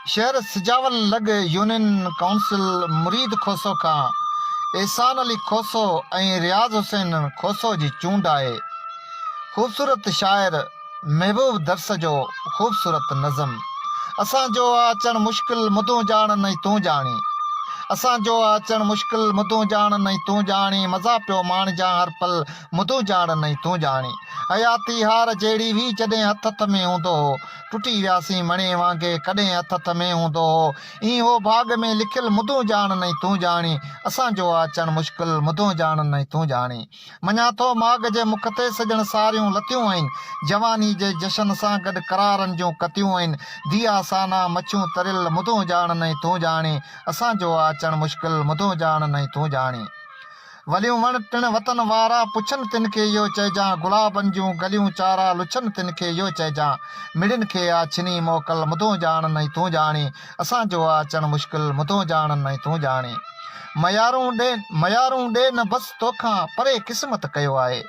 شهر سجاول لڳ union council Mureed Khoso کان احسان علي کوسو ۽ رياض حسين کوسو جي چونڊ آهي. خوبصورت شاعر محبوب درس جو خوبصورت نظم اسان جو آ اچڻ مشڪل مدون ڄاڻن ۽ تون ڄاڻي اسان جو آ اچڻ مشڪل مدون ڄاڻن ۽ تون ڄاڻي مزا پيو ماڻجان هر پل مدون ڄاڻ نئين تون ڄاڻي حياتي هار جهڙي هئي جڏهن هٿ هٿ ۾ هوندو هو ٽٽي وياسين مڻي وانگي ڪڏهن هٿ هٿ ۾ هوندو هو ائين هو ڀاڳ ۾ لکيل مدون ڄاڻ نئين تون ڄاڻي اسان جو آ اچڻ مشڪل مدون ڄاڻ نئين تون ڄاڻي مڃان ٿو ماڳ جي مک تي سڄڻ ساريون لتيون آهن جواني جي جشن سان گڏ قرارن جون ڪتيون آهن ديا سانا مڇيون تريل مدون ڄاڻ نئين تون ڄاڻي اسان جو آ اچڻ مشڪل مدون ڄاڻ نئين تون ڄاڻي. وليون وڻ ٽڻ وتن وارا پڇن تن کي اهو چئجان گلابن جون گليون چارا لڇن تن کي اهو چئجان مڙين کي آ ڇني موڪل مدون ڄاڻن ۽ تون ڄاڻين اسان جو آ اچڻ مشڪل مدون ڄاڻن ۽ تون ڄاڻين ميارون ڏي ميارون ڏي نه بس توکان پري قسمت ڪيو آهي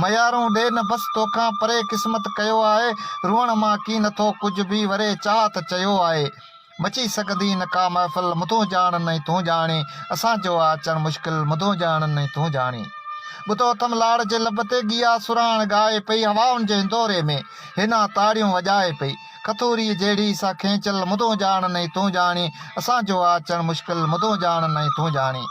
ميارون ڏي نه بس توکان پري قسمت ڪيو آهي روئڻ مان ڪين ٿو ڪجهه به وري چاهت چيو آهي مچي سگهندي نه ڪا محفل مدون جاڻن ۽ تون جاڻي اسان جو آ اچڻ مشڪل مدون جاڻن ۽ تون جاڻي ٻڌو اٿم لاڙ جي لب تي گيا سرهاڻ ڳائي پئي هوائن جي هندوري ۾ هينا تاڙيون وڄائي پئي کٿوري جهڙي سا کينچل مدون جاڻن ۽ تون جاڻي اسان جو آ اچڻ مشڪل مدون جاڻن ۽ تون جاڻي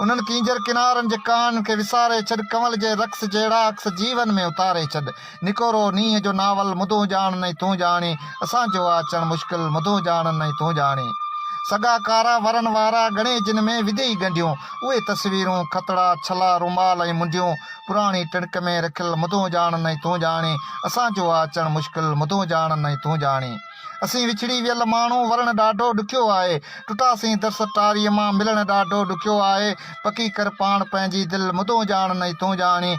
انهن ڪينجهر ڪنارن جي ڪاهن کي وساري ڇڏ ڪنول جي رقص جهڙا عڪس جيون ۾ اتاري ڇڏ نڪورو نينهن جو ناول مدون ڄاڻن ۽ تون ڄاڻين اسان جو آ اچڻ مشڪل مدون ڄاڻن ۽ تون ڄاڻين سڳا ڪارا ورن وارا ڳڻي جن ۾ وڌيئي ڳنڍيون اهي تصويرون کتڙا ڇلا رومال ۽ منڊيون پراڻي ٽڻڪ ۾ رکيل مدون ڄاڻن ۽ تون ڄاڻين اسان جو آ اچڻ مشڪل مدون ڄاڻن ۽ تون ڄاڻين اسين وڇڙي ويل ماڻهو ورڻ ڏاڍو ڏکيو آهي ٽٽاسين درس ٽاري مان ملڻ ڏاڍو ڏکيو آهي پڪي ڪر پاڻ پنهنجي دل مدون ڄاڻن ۽ تون ڄاڻين